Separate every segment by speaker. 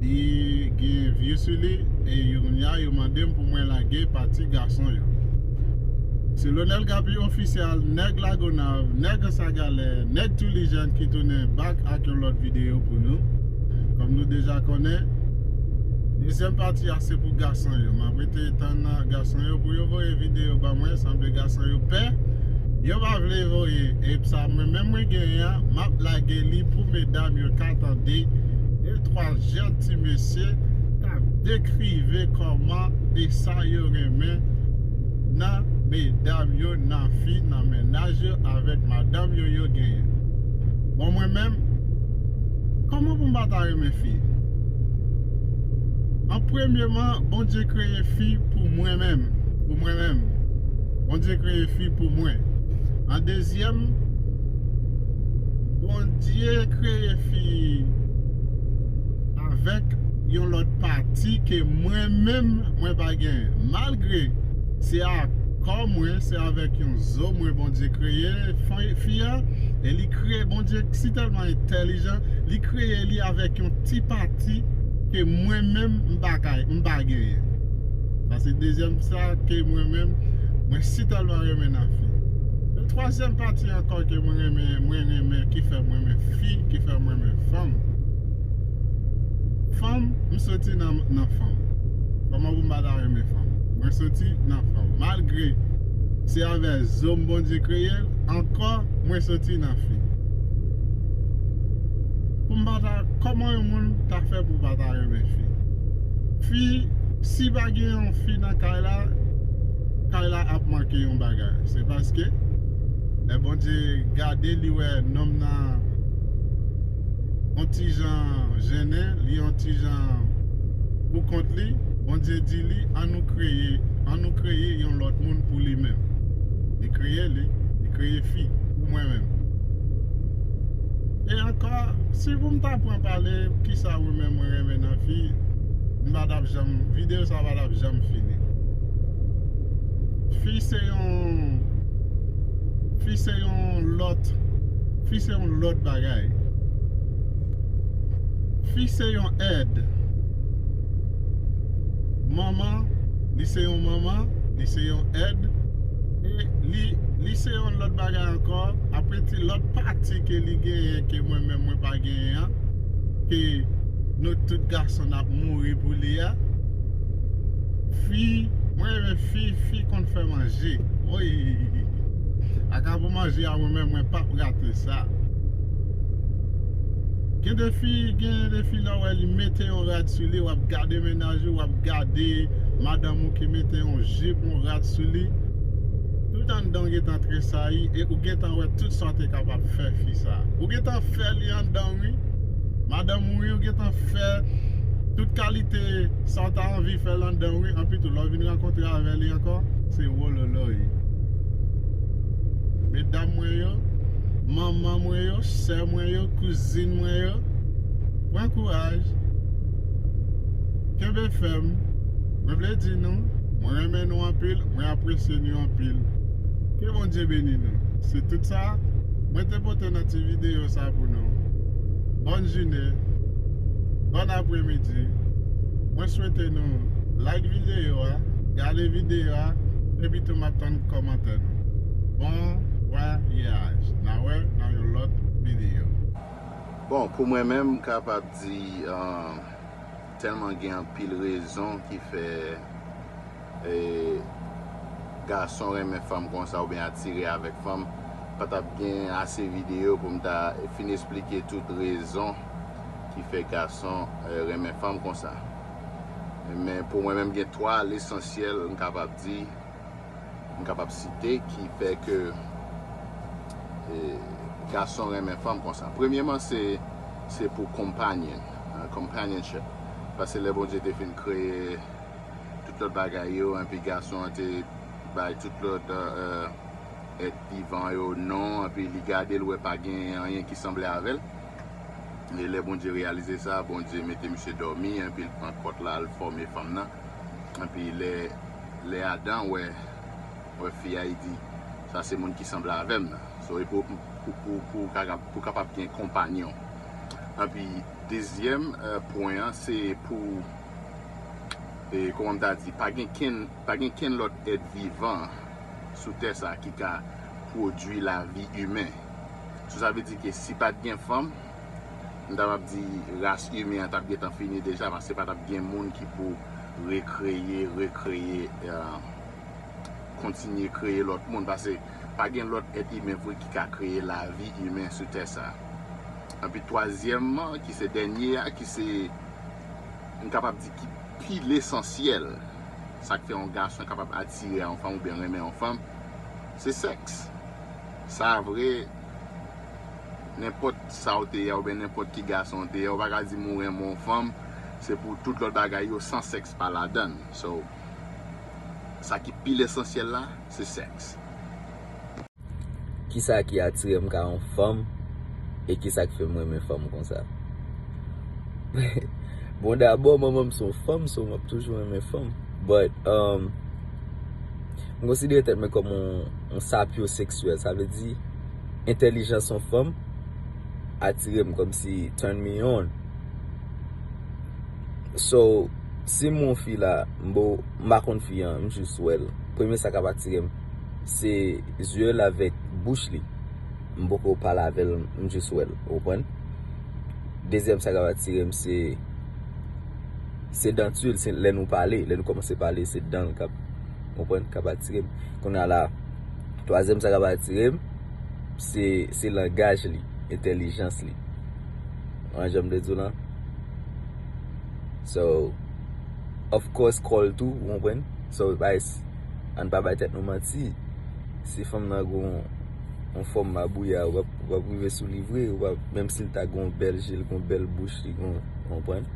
Speaker 1: Li gen vye sou li e Urmia yo mande m pou mwen lage pati gason yo. Se Lonel Gaby Official, Nèg Lagonav, Nèg Ansagalè, Nèg Tulijen ki tounen back ak yon lòt videyo pou nou. Kòm nou deja konnen, dezyèm pati a se pou gason yo. M ap rete tann gason yo pou yo voye videyo ban mwen. Sanble gason yo pè, yo pa vle voye. E sa mwen menm mwen genyen an, m ap lage li pou medam yo ka tande. 3 jèn ti mesye k ap dekrive kòman e sa yo renmen nan medam yo, nan fi, nan mennaj yo avèk madanm yo yo genyen. Bon mwen menm, kòman pou m pa ta renmen fi? An premyeman, Bondye kreye fi pou mwen menm, pou mwen menm. Bondye kreye fi pou mwen. An dezyèm. Bondye kreye fi avèk yon lòt pati ke mwen menm mwen pa gen malgre se a kò mwen se avèk yon zo mwen Bondye kreye fi a e li kreye Bondye si tèlman entèlijan li kreye li avèk yon ti pati ke mwen menm m pa genyen. Pase dezyèm sa ke mwen menm mwen si tèlman renmen nan fi. E twazyèm pati ankò ke mwen renmen mwen renmen ki fèm renmen fi ki fèm renmen fanm. Fanm m soti nan nan fanm. Kòman pou m pa ta renmen fanm. Mwen soti nan fanm. Malgre se avè zo m Bondye kreye l ankò mwen soti nan fi. Pou m pa ta kòman yon moun ta fè pou pa ta renmen fi. Fi. Si pa gen yon fi nan kay la, kay la ap manke yon bagay. Se paske lè Bondye gade li wè nonm nan on ti jan jennen, li on ti jan pou kont li, Bondye di li an nou kreye, an nou kreye yon lòt moun pou li menm. Li kreye li, li kreye fi pou mwen menm. E ankò, si pou m ta pran pale, kisa ou menm ou renmen nan fi? M pa tap janm video sa pa tap janm fini Fi se yon Fi se yon lòt Fi se yon lòt bagay Fi se yon èd Manman Li se yon manman Li se yon èd E li Li se yon lòt bagay ankò Aprè ti lòt pati ke li genyen ke mwen menm mwen pa genyen an ke nou tout gason nap mouri pou li a fi mwen renmen fi fi konn fè manje woyy aka pou manje a mwen menm mwen pap rate sa gen de fi gen de fi lè ou wè li mete yon rad sou li wap gade mennaj ou wap gade madanm ou ki mete yon jip yon rad sou li tout anndanw gentan tresayi e ou gentan wè tout sa ou te kapab fè fi sa. Ou gentan fè li andan wi Madanm wi ou gentan fè tout kalite sa ou ta anvi fèl andan wi anpi tou lè ou vin rankontre avè li ankò se wololoy Medam mwen yo Manman mwen yo sè mwen yo kouzin mwen yo pran kouraj kenbe fèm mwen vle di nou mwen renmen nou anpil mwen apresye nu anpil. Ke Bondye beni nou. Se tout sa Mwen te pote nan ti video sa pou nou. Bòn june, bòn apre midi. Mwen swete nou like video a, gade video a epi tou map tann kòmantè nou. Bon vwayaj. Na wè nan yon lòt video. Bon
Speaker 2: pou mwen menm m kapab di Telman gen anpil rezon ki fè gason renmen fanm konsa oubyen atire avèk fanm, pa t ap gen ase videyo pou m ta fin esplike tout rezon ki fè gason renmen fanm konsa. Men pou mwen menm gen 3 lesansyèl m kapab di. m kapab site ki fè ke gason renmen fanm konsa. Premyeman se se pou companion, companionship, paske lè Bondye te fin kreye tout lòt bagay yo enpi gason an te bay tout lòt èt vivan yo non enpi li gade l wè pa gen anyen ki sanble avè l e lè Bondye reyalize sa Bondye mete misye dòmi enpi l pran kòt la l fòme fanm nan Epi lè Adan wè fi a, li di, Sa se moun ki sanble avè m nan. So, e pou ou kapab gen konpanyon. Epi dezyèm pwen an, se pou, kòman m ta di, pa gen kenn lòt èt vivan sou tè sa a ki ka pwodui lavi imen. So, sa vle di ke si pa t gen fanm, m ta pap di ras imen an tap gentan fini deja paske pa tap gen moun ki pou rekreye, rekreye, kontinye kreye lòt moun paske pa gen lòt èt imen vre ki ka kreye lavi imen sou tè sa. Anpi twazyèmman ki se dènye a ki se m kapab di ki pi lesansyèl sa k fè yon gason kapab atire a yon fanm oubyen renmen yon fanm se sèks sa vre. Nenpòt sa w te ye a oubyen nenpòt ki gason w te ye a, ou pa ka di m ou renmen yon fanm, se pou tout lòt bagay yo san sèks pa ladan. So, sa ki pi lesansyèl la, se sèks.
Speaker 3: Kisa ki atire m ka yon fanm e kisa k fè m renmen fanm konsa? Bon dabò, manman m se yon fanm, so m ap toujou renmen fanm. But, m konsidere tèt mwen kòm yon sapyoseksyèl, sa vle di. Entèlijans yon fanm atire m kòmsi turn me on So si m wè yon fi la m bo m pa konn fi an m jis wè l premye sa k ap atire m se zye l avèk bouch li m poko pale avè l m jis wè l ou konprann Dezyèm sa k ap atire m se se danti l lè nou pale lè nou kòmanse pale se dan l k ap ou konprann k ap atire m Kounye a la Twazyèm sa k ap atire m, se langaj li, entèlijans li. Konprann jan m vle di w lan? So, of course kò l tou, ou konprann? So, an n pa bay tèt nou manti, si fanm nan gen yon fòm mabouya, ou p ap rive sou li vre, menm si l ta gen yon bèl je, l gen yon bèl bouch, li gen yon, ou konprann?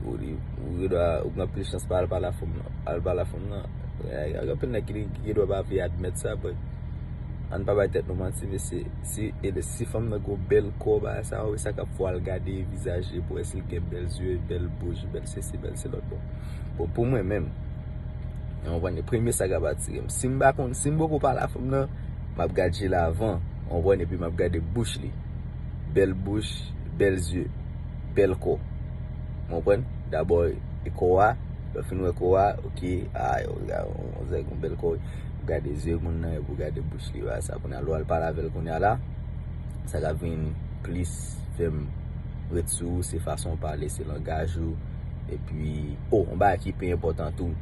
Speaker 3: Ou gen dwa, ou gen anpil chans pa al pale ak fanm nan. Gen anpil nèg ki gen dwa pa vle admèt sa but ann pa bay tèt nou manti mesye si fanm nan gen yon bèl kò bagay sa wè sa kap fè w al gade vizaj li pou wè si li gen bèl zye bèl bouch bèl sesi bèl se lòt bon pou mwen menm ou konprann premye sa kap atire m si m pa konn si m poko pale a fanm nan map gad je l avan ou konprann epi map gade bouch li bèl bouch bèl zye. bèl kò. Mwen pran, dabò e kò a, lò fin wè kò a, ok, a, yon zèk yon bèl kò, ou gade zye moun nan, ou gade bouch li, wè sa kounye a, lò al pale avèl kounye a la, sa ka vin plis fèm ret sou ou, se fason ou pale, se langaj ou, epi, o, yon bagay ki pi enpòtan tou,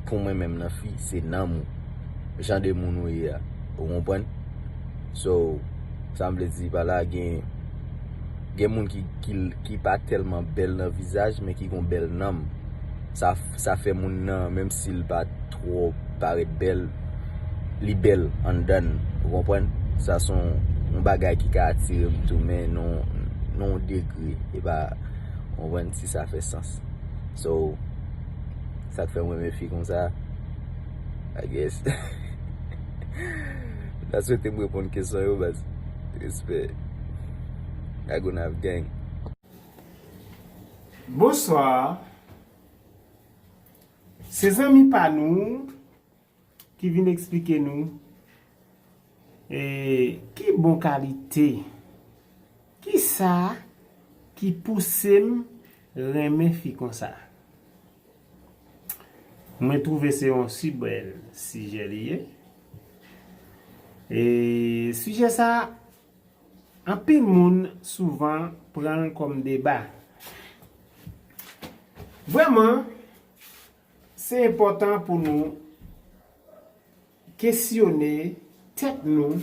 Speaker 3: pou mwen menm nan fi, se nanm ou, jan de moun ou ye a, ou konprann? So, sa m vle di pa la gen. Gen moun ki pa tèlman bèl nan vizaj men ki gon bèl nanm. Sa fè moun nan menm si l pa twò parèt bèl, li bèl anndan l. Ou konprann? Sa s on bagay ki ka atire m tou men nan yon degre. E pa, ou konprann, si sa fè sans. So, sa k fè m renmen fi konsa, I guess. M ta swete m reponn kesyon yo baz. Respè. Lagonav gang.
Speaker 4: Bonsoir Se zanmi pa nou ki vin eksplike nou ki bon kalite Kisa ki pouse m renmen fi konsa Mwen twouve se yon si bèl sijè li ye Sijè sa Anpil moun souvan pran l kòm deba. Vrèman, se enpòtan pou nou kesyone tèt nou,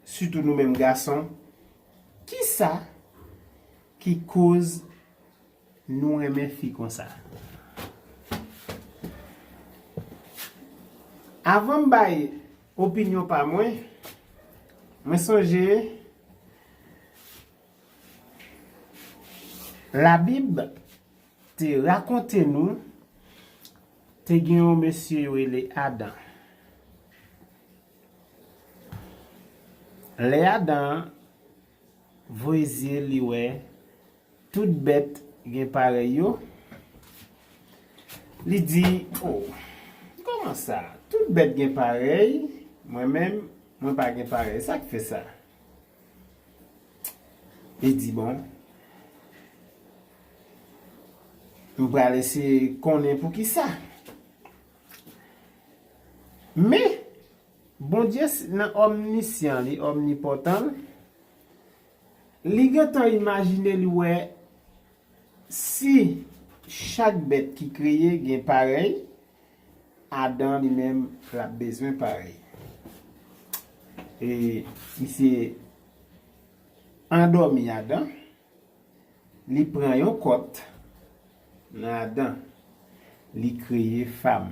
Speaker 4: sitou nou menm gason, kisa ki koz Nou renmen fi konsa. Avan m bay opinyon pa mwen, mwen sonje labib te rakonte nou te gen yon mesye yo rele Adan. Lè Adan Voye zye li wè tout bèt gen parèy yo. Li di, O, kòman sa? Tout bèt gen parèy, mwen menm, mwen pa gen parèy. Sa k fè sa? Li di, Bon, m pral eseye konnen poukisa. Men! Bondye nan omnisyan li, omnipotan l, li gentan imajine li wè si chak bèt ki kreye gen parèy, Adan li menm l ap bezwen parèy. E misye andomi Adan, li pran yon kòt nan Adan, li kreye fam.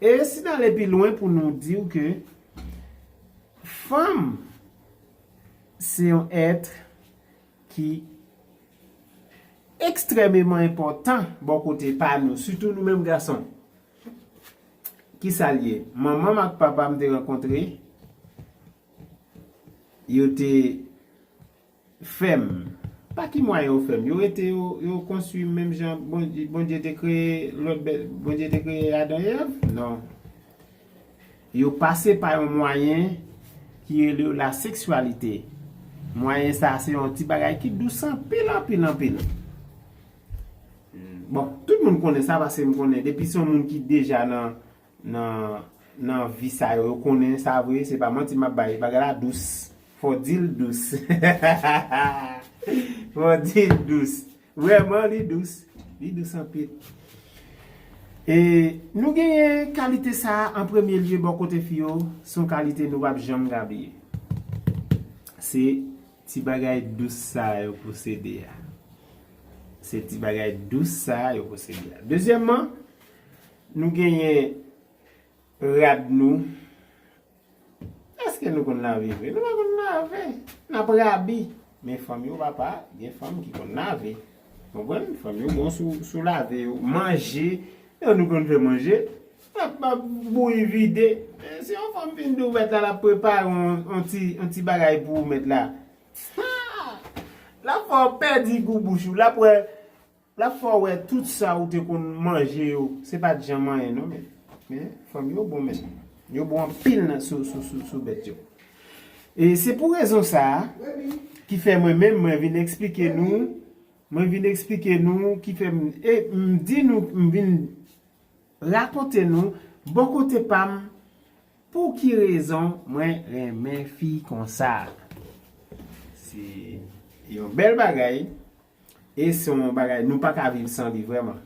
Speaker 4: E si n ale pi lwen pou nou di w ke fanm se yon èt ki ekstrèmeman enpòtan bò kote pa nou, sitou nou menm gason. Ki sa l ye? Manman m ak papa m te rankontre, yo te. Fèm. Pa ki mwayen yo fèm? Yo rete yo yo konstwi menm jan bon Bondye te kreye lòt bèt Bondye te kreye Adan e Èv? Non. Yo pase pa yon mwayen ki rele yo la seksyalite. Mwayen sa a se yon ti bagay ki dous anpil anpil anpil. Bon, tout moun konnen sa paske m konnen depi se yon moun ki deja nan nan nan vi sa yo yo konnen sa vre se pa manti map bay bagay la dous fò dil dous hahahaa fò dil dous vrèman li dous li dous anpil e nou genyen kalite sa an premye lye bò kote fi yo son kalite nou pap janm ka bliye se ti bagay dous sa yo posede a se ti bagay dous sa yo posede a dezyèmman Nou genyen rad nou. Eske nou konn lave vre? Nou pa konn lave. N ap rabi. Men fanm yo papa, gen fanm ki konn lave. Konprann? Fanm yo bon sou lave yo. Manje, yo nou konn fè manje. N ap ap bouyi vide. Si yon fanm fin di ou mèt la l ap prepare yon ti bagay pou ou mèt la. Haa! L ap fè ou pèdi gou bouch ou. L ap wè Lap fè w wè tout sa ou te konn manje yo se pat janm anyen non men men fanm yo bon men yo bon anpil nan sou bèt yo e se pou rezon sa ki fè mwen menm mwen vin eksplike nou mwen vin eksplike nou ki fè m e m di nou m vin rakonte nou bò kote pa m pou ki rezon mwen renmen fi konsa se yon bèl bagay. E se yon bagay nou pa ka viv san li vrèman.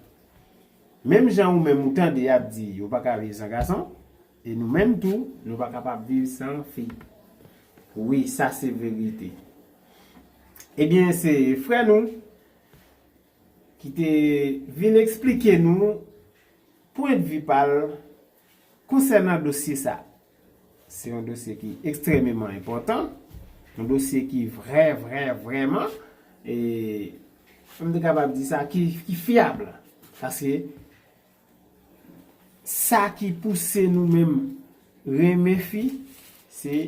Speaker 4: Menm jan ou menm ou tande y ap di yo pa ka viv san gason, e nou menm tou nou pa kapab viv san fi. Wi, sa se verite. Ebyen se frè nou ki te vin eksplike nou pwendvi pa l konsènan dosye sa. Se yon dosye ki ekstrememan enpòtan, yon dosye ki vrè vrè vrèman, e m te kapab di sa ki fyab. Paske sa ki pouse nou menm renmen fi, se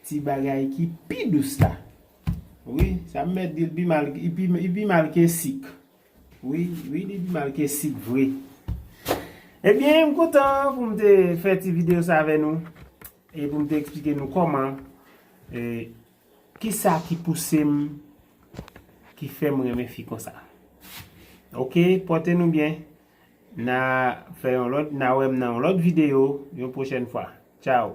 Speaker 4: ti bagay ki pi dous la. Wi, sa m mèt di l, li pi mal ke sik. Wi wi li pi mal ke sik vre. Ebyen m kontan pou m te fè ti video sa avè nou e pou m te eksplike nou kòman e kisa ki pouse m ki fè m renmen fi konsa. Ok pòte nou byen na fè yon lòt na wè m nan yon lòt video yon pwochèn fwa. Tchao.